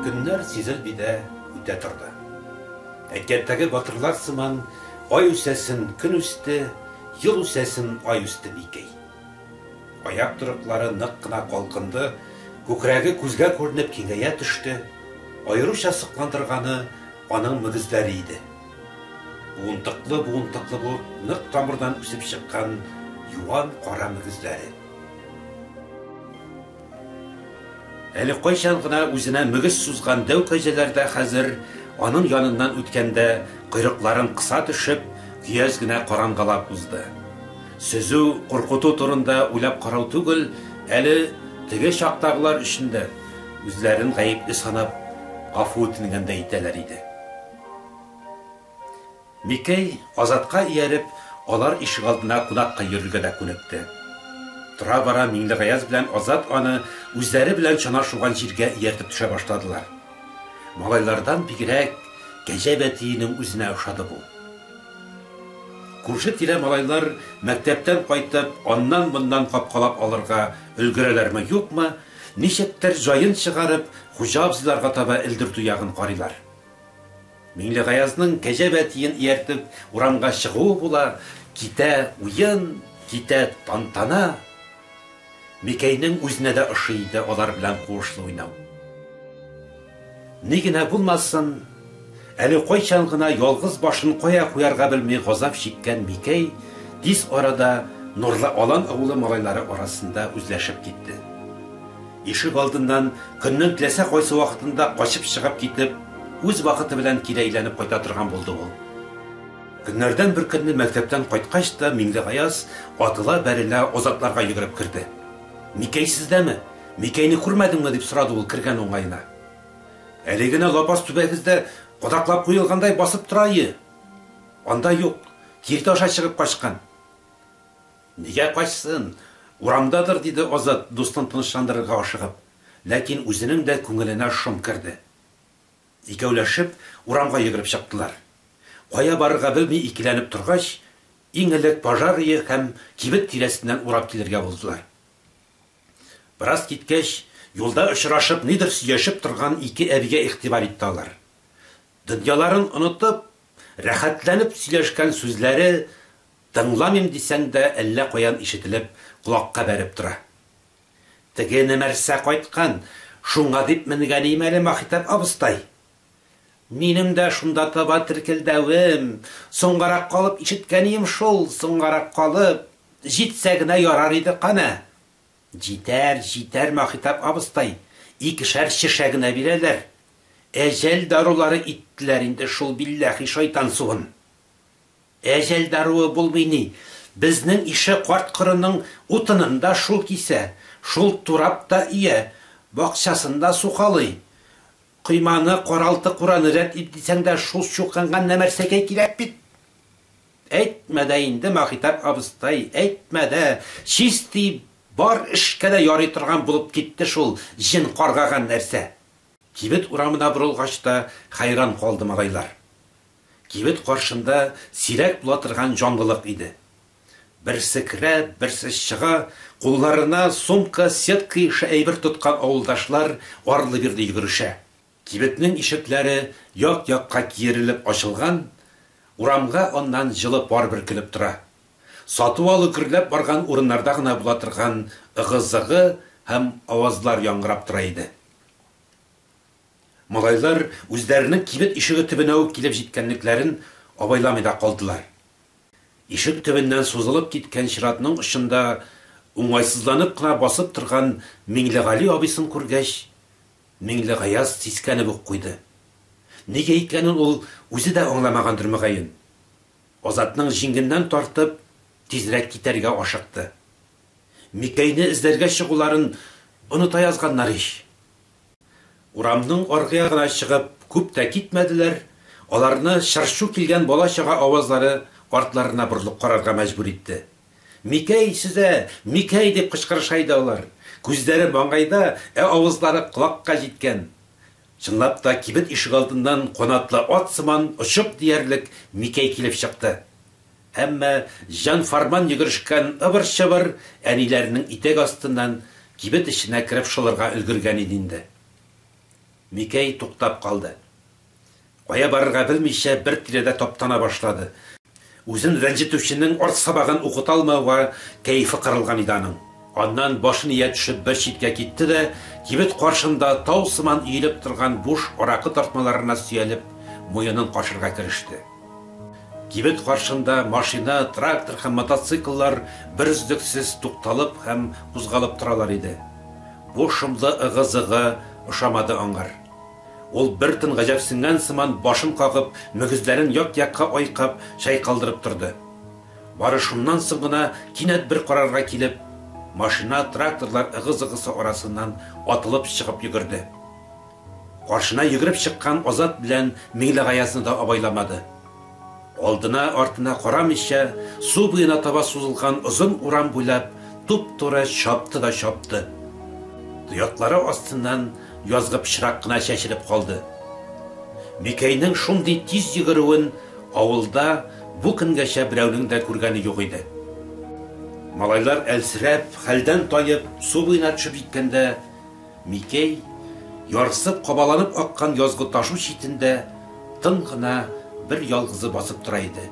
Көннәр сизелми дә үтә торды. Әкияттәге батырлар сыман, ай үсәсен көн үсте, ел үсәсен ай үсте Микәй. Аяк торыклары нык кына калкынды, күкрәге күзгә күренеп киңәя төште, аеруча сокландырганы аның мөгезләре иде. Буынтыклы-буынтыклы булып нык тамырдан үсеп чыккан юан кара мөгезләре. Әле кайчан гына үзенә мөгез сузган дәү кәҗәләр дә хәзер аның яныннан үткәндә койрыкларын кыса төшеп, көяз генә карангалап узды. Сөзү, куркыту турында уйлап карау түгел, әле теге чактагылар өчен дә үзләрен гаепле санап, гафу үтенгәндәй итәләр иде. Микәй, Азатка ияреп, алар ишегалдына кунакка йөрергә дә күнекте. Тора-бара Миңлегаяз белән Азат аны үзләре белән чана шуган җиргә ияртеп төшә башладылар. Малайлардан бигрәк Кәҗә бәтиенең үзенә ошады бу. Күрше-тирә малайлар мәктәптән кайтып, аннан-моннан капкалап алырга өлгерәләрме-юкмы, ничектер, җаен чыгарып, хуҗа абзыйларга таба элдертү ягын карыйлар. Миңлегаязның кәҗә бәтиен ияртеп урамга чыгуы була, китә уен, китә тантана. Микәйнең үзенә дә ошый иде алар белән куышлы уйнау. Ни генә булмасын, әле кайчан гына ялгыз башын кая куярга белми газап чиккән Микәй тиз арада Нурлы Алан авылы малайлары арасында үзләшеп китте. Ишек алдыннан көннең теләсә кайсы вакытында качып чыгып китеп, үз вакыты белән кире әйләнеп кайта торган булды ул. Көннәрдән бер көнне мәктәптән кайткач та Миңлегаяз атыла-бәрелә Азатларга йөгереп керде. Микәй сездәме? Микәйне күрмәдеңме? дип сорады ул кергән уңаена. Әле генә лапас түбәгездә кадаклап куелгандай басып тора ие. Анда юк, киртә аша чыгып качкан. Нигә качсын? Урамдадыр, диде Азат, дустын тынычландырырга ашыгып. Ләкин үзенең дә күңеленә шом керде. Икәүләшеп урамга йөгереп чыктылар. Кая барырга белми икеләнеп торгач, иң элек пожар өе һәм кибет тирәсеннән урап килергә булдылар. Бераз киткәч, юлда очрашып, нидер сөйләшеп торган ике әбигә игътибар итте алар. Дөньяларын онытып, рәхәтләнеп сөйләшкән сүзләре Тыңламыйм дисәң дә әллә каян ишетелеп колакка бәреп тора. Теге Нәмәрсә кайткан, шуңа дип менгәлим әле, Маһитәк абыстай. Минем дә шунда таба теркелдәвем, соңгарак калып ишеткәнием шул, соңгарак калып, җитсә генә ярар иде кана. Җитәр, җитәр, Маһитәк абыстай, икешәр чешә генә бирәләр. Әҗәл дарулары иттеләр инде шул билләһи шайтан суын. Әҗәл даруы булмый ни. Безнең ише карт-корының утынын да шул кисә, шул турап та өя, бакчасын да сукалый. Койманы, каралты-кураны рәт ит дисәң дә шул чукынган нәмәрсәкәй кирәк бит. Әйтмә дә инде, Маһитап абыстай, әйтмә дә, чисти бар эшкә дә ярый торган булып китте шул җен каргаган нәрсә. Кибет урамына борылгач та хәйран калды малайлар. Кибет каршында сирәк була торган җанлылык иде. Берсе керә, берсе чыга, кулларына сумка, сетка ише әйбер тоткан авылдашлар арлы-бирле йөгерешә. Кибетнең ишекләре як-якка киерелеп ачылган, урамга аннан җылы пар бөркелеп тора. Сату-алу гөрләп барган урыннарда гына була торган ыгы-зыгы һәм авазлар яңгырап тора иде. Малайлар үзләренең кибет ишеге төбенә үк килеп җиткәнлекләрен абайламый да калдылар. Ишек төбеннән сузылып киткән чиратның очында уңайсызланып кына басып торган Миңлегали абыйсын күргәч, Миңлегаяз сискәнеп үк куйды. Нигә икәнен ул үзе дә аңламагандыр, мөгаен. Азатның җиңеннән тартып, тизрәк китәргә ашыкты. Микәйне эзләргә чыгуларын оныта язганнар ич! Урамның аргы ягына чыгып күп тә китмәделәр, аларны чыр-чу килгән бала-чага авазлары артларына борылып карарга мәҗбүр итте. Микәй сөзә, Микәй! дип кычкырыша иде алар. Күзләре маңгайда, ә авызлары колакка җиткән. Чынлап та, кибет ишегалдыннан канатлы ат сыман очып диярлек Микәй килеп чыкты. Әмма җан-фарман йөгерешкән ыбыр-чыбыр әниләренең итәк астыннан кибет эченә кереп шылырга өлгергән иде инде. Микәй туктап калды. Кая барырга белмичә бер тирәдә таптана башлады. Үзен рәнҗетүченең арт сабагын укыта алмауга кәефе кырылган иде аның. Аннан башын ия төшеп бер читкә китте дә, кибет каршында тау сыман өелеп торган буш аракы тартмаларына сөялеп, муенын кашырга кереште. Кибет каршында машина, трактор һәм мотоцикллар берөзлексез тукталып һәм кузгалып торалар иде. Бу шомлы ыгы-зыгы ошамады аңар. Ул бер тын гаҗәпсенгән сыман башын кагып, мөгезләрен як-якка айкап, чайкалдырып торды. Бары шуннан соң гына кинәт бер карарга килеп, машина, тракторлар ыгы-зыгысы арасыннан атылып чыгып йөгерде. Каршына йөгереп чыккан Азат белән Миңлегаязны да абайламады. Алдына, артына карамыйча, су буена таба сузылган озын урам буйлап туп-туры чапты да чапты. Тояклары астыннан язгы пычрак кына чәчелеп калды. Микәйнең шундый тиз йөгерүен авылда бу көнгәчә берәүнең дә күргәне юк иде. Малайлар әлсерәп, хәлдән таеп, су буена төшеп җиткәндә, Микәй, ярсып, кабаланып аккан язгы ташу читендә тын гына бер ялгызы басып тора иде.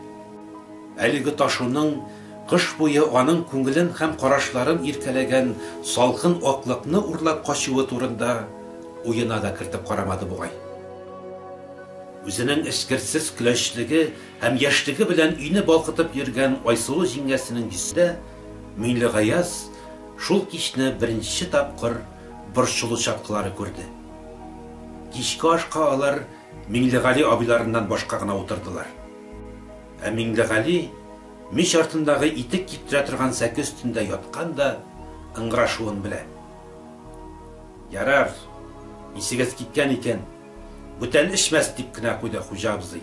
Әлеге ташуның кыш буе аның күңелен һәм карашларын иркәләгән салкын аклыкны урлап качуы турында уена да кертеп карамады бугай. Үзенең эчкерсез көләчлеге һәм яшьлеге белән өйне балкытып йөргән Айсылу җиңгәсенең йөзендә Миңлегаяз Шул кичне беренче тапкыр борчылу чаткылары күрде. Кичке ашка алар Миңлегали абыйларыннан башка гына утырдылар. Ә Миңлегали мич артындагы итек киптерә торган сәке өстендә яткан да ыңгырашуын белә. Ярар, исегез киткән икән, бүтән эчмәс, дип кенә куйды хуҗа абзый.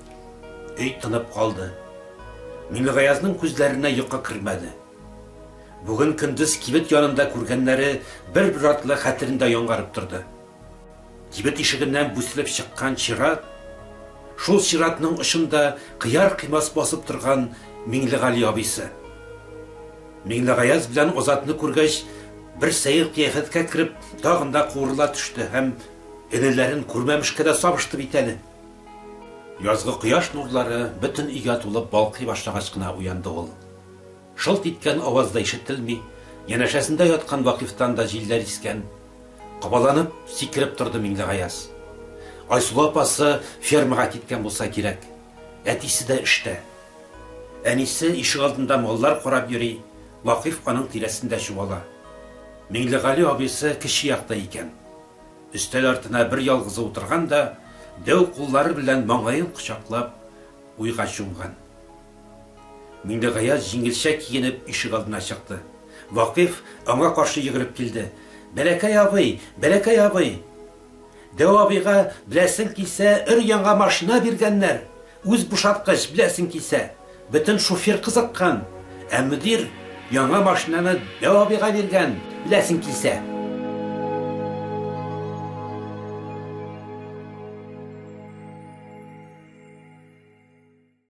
Өй тынып калды. Минегаязның күзләренә йокы кермәде. Бүген көндез кибет янында күргәннәре бер-бер артлы хәтерендә яңарып торды. Кибет ишегеннән бүселеп чыккан чират, шул чиратның очында кыяр-кыймас басып торган Миңлегали абыйсы. Миңлегаяз белән Азатны күргәч, бер сәер кыяфәткә кереп, тагын да куырыла төште һәм энеләрен күрмәмешкә дә сабышты бит әле. Язгы кояш нурлары бөтен өйгә тулып балкый башлагач кына уянды ул. Шылт иткән аваз да ишетелми, янәшәсендә яткан Вакыйфтан да җилләр искән. Кабаланып, сикереп торды Миңлегаяз. Айсылу апасы фермага киткән булса кирәк. Әтисе дә эштә. Әнисе ишегалдында маллар карап йөри, Вакыйф аның тирәсендә чуала. Миңлегали абыйсы кече якта икән. Өстәл артына бер ялгызы утырган да, дәү куллары белән маңгаен кочаклап, уйга чумган. Миңлегаяз җиңелчә киенеп ишегалдына чыкты. Вакыйф аңа каршы йөгереп килде. Бәләкәй абый! Бәләкәй абый! Дәү абыйга, беләсең килсә, өр-яңа машина биргәннәр! Үз бушаткыч, беләсең килсә. Бөтен шуфер кызыккан. Ә мөдир яңа машинаны Дәү абыйга биргән, беләсең килсә.